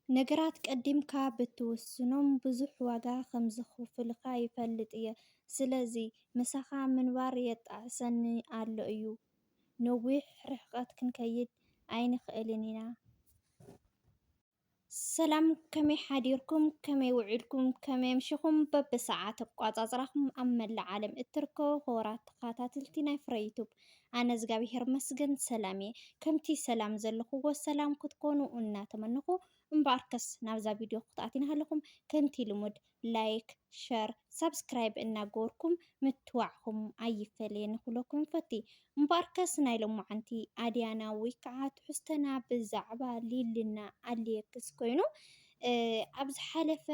ነገራት ቀዲምካ ብትውስኖም ብዙሕ ዋጋ ከምዘኽፍሉኻ ይፈልጥ እየ። ስለዚ ምሳኻ ምንባር የጣዕሰኒ ኣሎ እዩ። ነዊሕ ርሕቀት ክንከይድ ኣይንኽእልን ኢና። ሰላም ከመይ ሓዲርኩም ከመይ ውዒልኩም ከመይ ኣምሽኹም በብሰዓት ኣቋጻጽራኹም ኣብ መላእ ዓለም እትርከቡ ክቡራት ተኸታተልቲ ናይ ፍረ ዩቱብ ኣነ እዝጋቢሄር ይመስገን ሰላም እየ ከምቲ ሰላም ዘለኩዎ ሰላም ክትኮኑ እናተመነኩ እምበኣርከስ ናብዛ ቪድዮ ክትኣትዩ ናሃለኩም ከምቲ ልሙድ ላይክ ሸር ሳብስክራይብ እናገበርኩም ምትዋዕኩም ኣይፈለየኒ ክብለኩም ይፈቲ እምበኣርከስ ናይ ሎማዓንቲ ኣድያና ወይ ከዓ ትሕዝቶና ብዛዕባ ሊልና ኣልየክስ ኮይኑ ኣብ ዝሓለፈ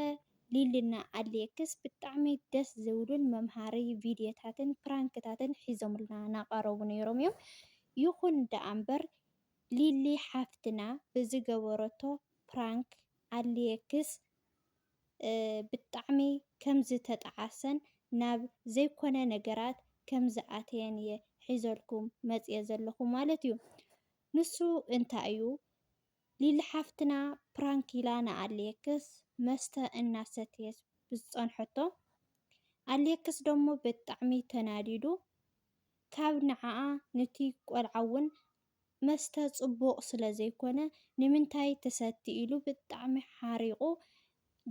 ሊሊና ኣሌክስ ብጣዕሚ ደስ ዝብሉን መምሃሪ ቪድዮታትን ፕራንክታትን ሒዞምልና ናቀረቡ ነይሮም እዮም ይኹን ደኣ እምበር ሊሊ ሓፍትና ብዝገበረቶ ፕራንክ ኣሌክስ ብጣዕሚ ከምዝተጠዓሰን ናብ ዘይኮነ ነገራት ከምዝኣተየን እየ ሒዘልኩም መፅየ ዘለኹ ማለት እዩ ንሱ እንታይ እዩ ሊሊ ሓፍትና ፕራንክ ኢላ ንኣሌክስ መስተ እናሰተየት ብዝፀንሐቶ ኣሌክስ ደሞ ብጣዕሚ ተናዲዱ ካብ ንዓኣ ንቲ ቆልዓ ውን መስተ ፅቡቅ ስለዘይኮነ ንምንታይ ትሰቲ ኢሉ ብጣዕሚ ሓሪቁ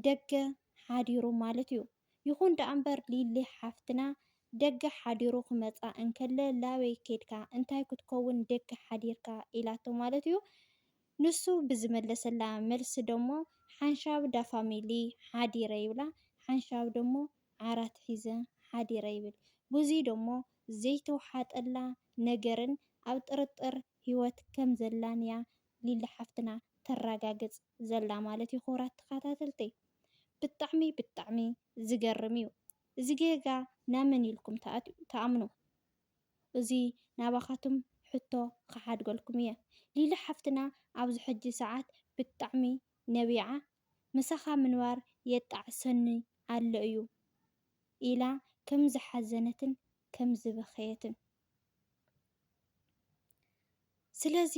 ደገ ሓዲሩ ማለት እዩ። ይኹን ደኣምበር ሊሊ ሓፍትና ደገ ሓዲሩ ክመጻ እንከለ ላበይ ኬድካ እንታይ ክትከውን ደገ ሓዲርካ ኢላቶ ማለት'ዩ። ንሱ ብዝመለሰላ መልሲ ደሞ ሓንሻብ ዳፋሚሊ ሓዲረ ይብላ ሓንሻብ ደሞ ዓራት ሒዘ ሓዲረ ይብል። ብዙይ ደሞ ዘይተውሓጠላ ነገርን ኣብ ጥርጥር ሂወት ከምዘላን'ያ ሊሊ ሓፍትና ተራጋግጽ። ዘላ ማለት ዩ ክቡራት ተካታተልተይ ብጣዕሚ ብጣዕሚ ዝገርም ዩ እዚ ጌጋ ናመን ኢልኩም ትኣምኑ እዚ ናባካቱም ሕቶ ክሓድገልኩም እየ ሊሊ ሓፍትና ኣብዚ ሕጂ ሰዓት ብጣዕሚ ነቢዓ ምሳካ ምንባር የጣዕሰኒ ኣሎ እዩ ኢላ ከም ዝሓዘነትን ከም ዝበከየትን ስለዚ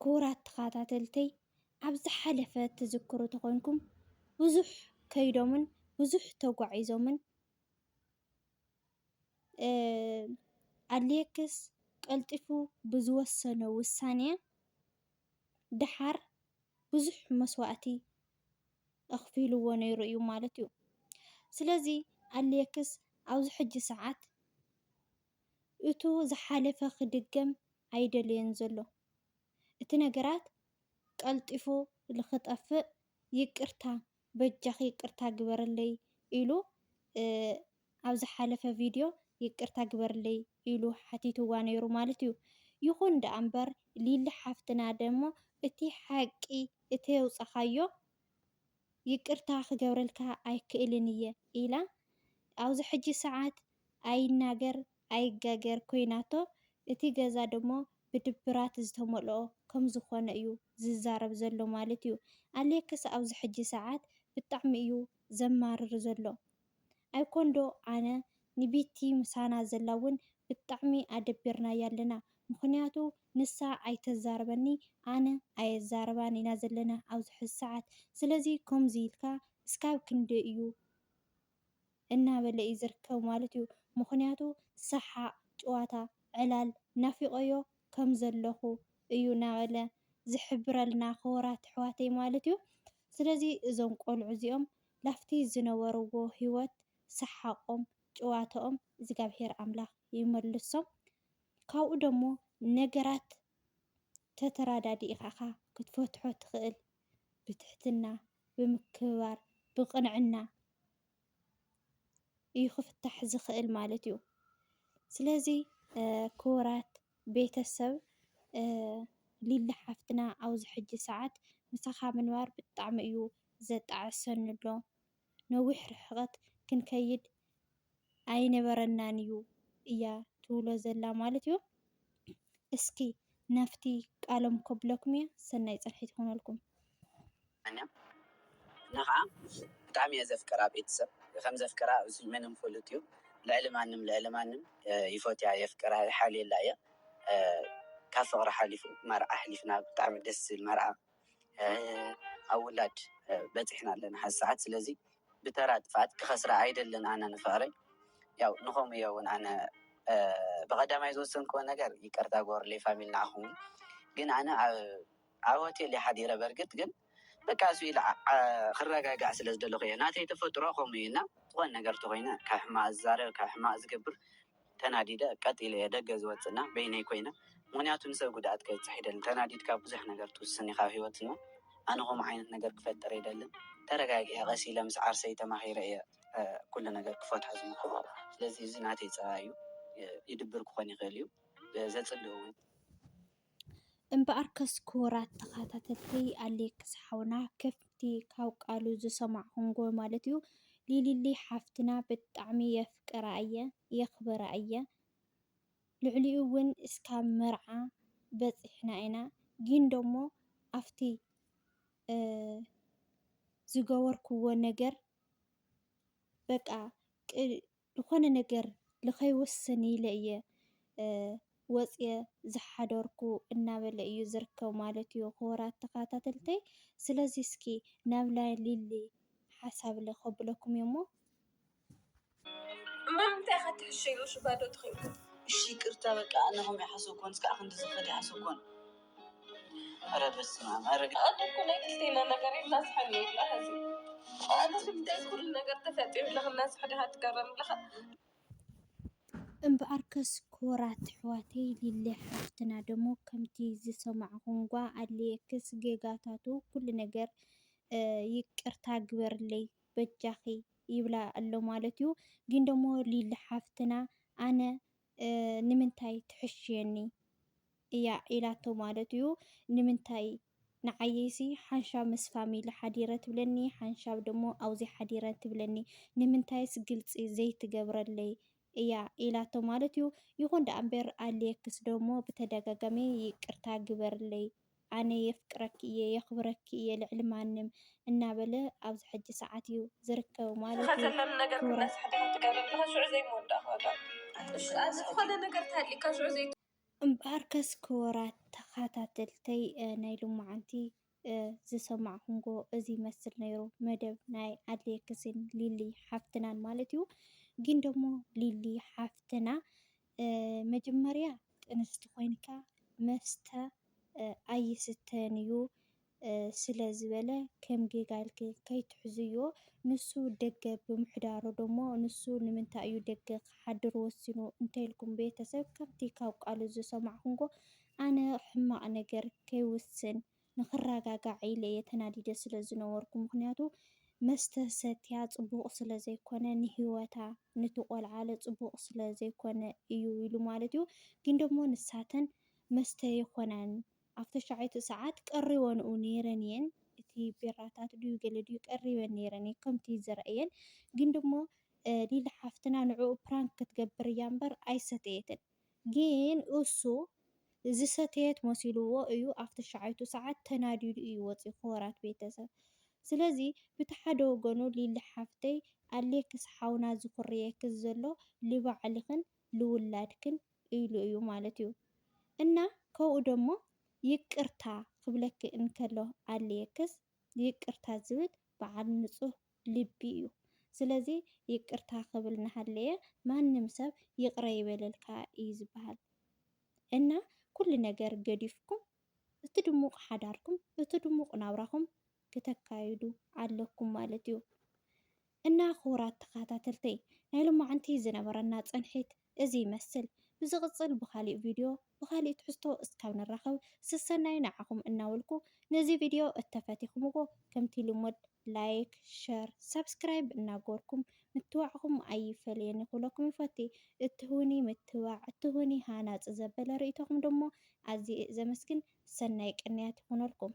ክቡራት ተኸታተልተይ ኣብ ዝሓለፈ ትዝክሩ ተኾይንኩም ብዙሕ ከይዶምን ብዙሕ ተጓዒዞምን ኣድልየክስ ቀልጢፉ ብዝወሰኖ ውሳነ ደሓር ብዙሕ መስዋእቲ ኣኽፊልዎ ነይሩ እዩ ማለት እዩ። ስለዚ ኣሌክስ ኣብዚ ሕጂ ሰዓት እቱ ዝሓለፈ ክድገም ኣይደለዮን ዘሎ። እቲ ነገራት ቀልጢፉ ልኽጠፍእ ይቅርታ በጃኺ ይቅርታ ግበርለይ ኢሉ ኣብ ዝሓለፈ ቪድዮ ይቅርታ ግበርለይ ኢሉ ሓቲትዋ ነይሩ ማለት እዩ ይኹን ደኣ እምበር ሊሊ ሓፍትና ደሞ እቲ ሓቂ እተየውጻኻዮ ይቅርታ ክገብረልካ ኣይክእልን እየ ኢላ ኣብዚ ሕጂ ሰዓት ኣይናገር ኣይጋገር ኮይናቶ እቲ ገዛ ደሞ ብድብራት ዝተመልኦ ከም ዝኮነ እዩ ዝዛረብ ዘሎ ማለት እዩ ኣሌክስ ኣብዚ ሕጂ ሰዓት ብጣዕሚ እዩ ዘማርር ዘሎ ኣይኮን ዶ ኣነ ንቢቲ ምሳና ዘላ ውን ብጣዕሚ ኣደቢርናያ ኣለና ምክንያቱ ንሳ ኣይተዛርበኒ ኣነ ኣየዛርባን ኢና ዘለና ኣብዚ ሕዚ ሰዓት ስለዚ ከምዚ ኢልካ እስካብ ክንደይ እዩ እናበለ እዩ ዝርከብ ማለት እዩ ምኽንያቱ ሰሓቅ ጭዋታ ዕላል ናፊቆዮ ከም ዘለኹ እዩ ናበለ ዝሕብረልና ክቡራት ኣሕዋተይ ማለት እዩ ስለዚ እዞም ቆልዑ እዚኦም ላፍቲ ዝነበርዎ ሂወት ሰሓቆም ጭዋተኦም እዝጋብሄር ኣምላኽ ይመልሶም ካብኡ ደሞ ነገራት ተተራዳዲእካ እኻ ክትፈትሖ ትኽእል ብትሕትና ብምክብባር ብቅንዕና እዩ ክፍታሕ ዝኽእል ማለት እዩ ስለዚ ክቡራት ቤተሰብ ሊሊ ሓፍትና ኣብዚ ሕጂ ሰዓት ምሳኻ ምንባር ብጣዕሚ እዩ ዘጣዕሰኒ ኣሎ። ነዊሕ ርሕቐት ክንከይድ ኣይነበረናን እዩ እያ ትብሎ ዘላ ማለት እዩ እስኪ ናፍቲ ቃሎም ከብለኩም እየ ሰናይ ፅንሒ ትኹነልኩም። ኣነ ኻኣ ብጣዕሚ እየ ዘፍቅራ ቤተሰብ ከም ዘፍቅራ እዙይ ምንም ፍሉጥ እዩ ልዕሊ ማንም ልዕሊ ማንም ይፎትያ የፍቅራ ይሓልየላ እየ ካብ ፍቅሪ ሓሊፉ መርዓ ኣሕሊፍና ብጣዕሚ ደስ ዝብል መርዓ ኣብ ውላድ በጺሕና ኣለና ሐዚ ሰዓት ስለዚ ብተራ ጥፍኣት ክኸስራ ኣይደልን ኣነ ንፍቕሪ ያው ንኸምኡ እየ እውን ኣነ ብቐዳማይ ዝወሰንክዎ ነገር ይቅርታ ጎርሌ ፋሚሊ ንዓኹም ግን ኣነ ኣብ ሆቴል ሓዲረ በርግጥ ግን በቃ እሱ ኢለ ክረጋጋዕ ስለ ዝደለኹ እየ ናተይ ተፈጥሮ ከምኡ እዩ እና ዝኾነ ነገር ተኮይነ ካብ ሕማቅ ዝዛረብ ካብ ሕማቅ ዝገብር ተናዲደ ቀጥ ኢለ እየ ደገ ዝወጽእ እና በይነይ ኮይነ ምክንያቱ ንሰብ ጉድኣት ከብጽሕ ኣይደልን ተናዲድካ ብዙሕ ነገር ትውስን ኢካ ኣብ ሂወት እና ኣነ ከምኡ ዓይነት ነገር ክፈጥር ኣይደልን ተረጋጊዐ ቀስ ኢለ ምስ ዓርሰይ ተማኪረ እየ ኩሉ ነገር ክፈትሖ ዝምክሮ ስለዚ እዚ ናተይ ጸባይ እዩ ይድብር ክኮን ይክእል እዩ ዘጽልእ ውን እምበኣርከስ ክቡራት ተኸታተልቲ ኣሌክስ ሓውና ከፍቲ ካብ ቃሉ ዝሰማዕኹምዎ ማለት እዩ ሊሊሊ ሓፍትና ብጣዕሚ የፍቅራ እየ የኽብራ እየ ልዕሊኡ እውን እስካብ መርዓ በፂሕና ኢና ግን ደሞ ኣብቲ ዝገበርኩዎ ነገር በቃ ዝኾነ ነገር ልኸይወስን ኢለ እየ ወፅየ ዝሓደርኩ እናበለ እዩ ዝርከብ ማለት እዩ ክቡራት ተኸታተልተይ። ስለዚ እስኪ ናብ ናይ ሊሊ ሓሳብ ልኸብለኩም እየ እሞ እማ እንታይ ኢኻ ትሕሸዮ ሽባዶ ትኸይድ እሺ ይቅርታ በቃ ኣነ ከምኡ ኣይሓሰብኩን እስከ ክንዲ ዝኸድ ኣይሓሰብኩን እምበኣርከስ ክቡራት ኣሕዋተይ ሊሊ ሓፍትና ደሞ ከምቲ ዝሰማዕኹምዋ ኣሌክስ ጌጋታቱ ኩሉ ነገር ይቅርታ ግበርለይ በጃኺ ይብላ ኣሎ ማለት እዩ ግን ደሞ ሊሊ ሓፍትና ኣነ ንምንታይ ትሕሽየኒ እያ ኢላቶ ማለት እዩ ንምንታይ ንዓይሲ ሓንሻብ ምስ ፋሚሊ ሓዲረ ትብለኒ ሓንሻብ ደሞ ኣውዚ ሓዲረ ትብለኒ ንምንታይስ ግልጺ ዘይትገብረለይ እያ ኢላቶ ማለት እዩ ይኹን ደኣ እምበር ኣልየክስ ደሞ ብተደጋጋሚ ይቅርታ ግበርለይ ኣነ የፍቅረኪ እየ የኽብረኪ እየ ልዕሊ ማንም እናበለ ኣብዚ ሕጂ ሰዓት እዩ ዝርከብ ማለት እዩ። ዝኸተለሉ ነገር ክብረት እናስሓተ ከም ትገብረ ኣለኻ ሽዑ ዘይምወዳእካ ዋጋ እሺ ኣብ ዝኾነ ነገር ተሃሊእካ ሽዑ ዘይ እምበኣርከስ ክቡራት ተኸታተልተይ ናይ ሎማዓንቲ ዝሰማዕኹምዎ እዚ ይመስል ነይሩ መደብ ናይ ኣሌክስን ሊሊ ሓፍትናን ማለት እዩ። ግን ደግሞ ሊሊ ሓፍትና መጀመርያ ጥንስቲ ኮይንካ መስተ ኣይስተን እዩ ስለ ዝበለ ከም ጌጋ ኢልኪ ከይትሕዝዮ ንሱ ደገ ብምሕዳሩ ደሞ ንሱ ንምንታይ እዩ ደገ ክሓድር ወሲኑ እንተይልኩም ቤተሰብ ከምቲ ካብ ቃሉ ዝሰማዕኩምዎ ኣነ ሕማቅ ነገር ከይውስን ንክራጋጋዕ ኢለ እየ ተናዲደ ስለ ዝነበርኩ ምክንያቱ መስተ ሰትያ ጽቡቅ ስለ ዘይኮነ ንሂወታ ንቲ ቆልዓለ ጽቡቅ ስለ ዘይኮነ እዩ ኢሉ ማለት እዩ ግን ደሞ ንሳተን መስተ የኮናን ኣብ ተሻዐይቱ ሰዓት ቀሪወንኡ ነይረን እየን እቲ ቢራታት ድዩ ገለ ድዩ ቀሪበን ነይረን እየ ከምቲ ዝረእየን ግን ደሞ ሊሊ ሓፍትና ንዕኡ ፕራንክ ክትገብር እያ እምበር ኣይሰተየትን። ግን እሱ ዝሰተየት መሲልዎ እዩ ኣብ ተሻዓይቱ ሳዓት ተናዲዱ እዩ ወፂኡ ክቡራት ቤተሰብ ስለዚ ብቲ ሓደ ወገኑ ሊሊ ሓፍተይ ኣሌክስ ሓውና ዝኹርየኪ ዘሎ ልባዕልክን ልውላድክን ኢሉ እዩ ማለት እዩ እና ከብኡ ደሞ ይቅርታ ክብለኪ እንከሎ ኣሌክስ ይቅርታ ዝብል ባዓል ንፁህ ልቢ እዩ ስለዚ ይቅርታ ክብል ናሃለየ ማንም ሰብ ይቅረ ይበለልካ እዩ ዝባሃል እና ኩሉ ነገር ገዲፍኩም እቲ ድሙቅ ሓዳርኩም እቲ ድሙቅ ናብራኹም ክተካይዱ ኣለኩም ማለት እዩ እና ክቡራት ተኻታተልተይ ናይ ሎማዓንቲ ዝነበረና ፅንሒት እዚ ይመስል ብዝቅጽል ብካሊእ ቪድዮ ብካሊእ ትሕዝቶ እስካብ ንራከብ ስሰናዩ ንዓኩም እናበልኩ ነዚ ቪድዮ እተፈቲክምዎ ከምቲ ልሙድ ላይክ ሸር ሳብስክራይብ እናገበርኩም ምትባዕኩም ኣይፈለየኒ ክብለኩም ይፈቲ እትህቡኒ ምትባዕ እትህቡኒ ሃናጺ ዘበለ ርእይቶኩም ደሞ ኣዝየ ዘመስግን ሰናይ ቅንያት ይኩነልኩም።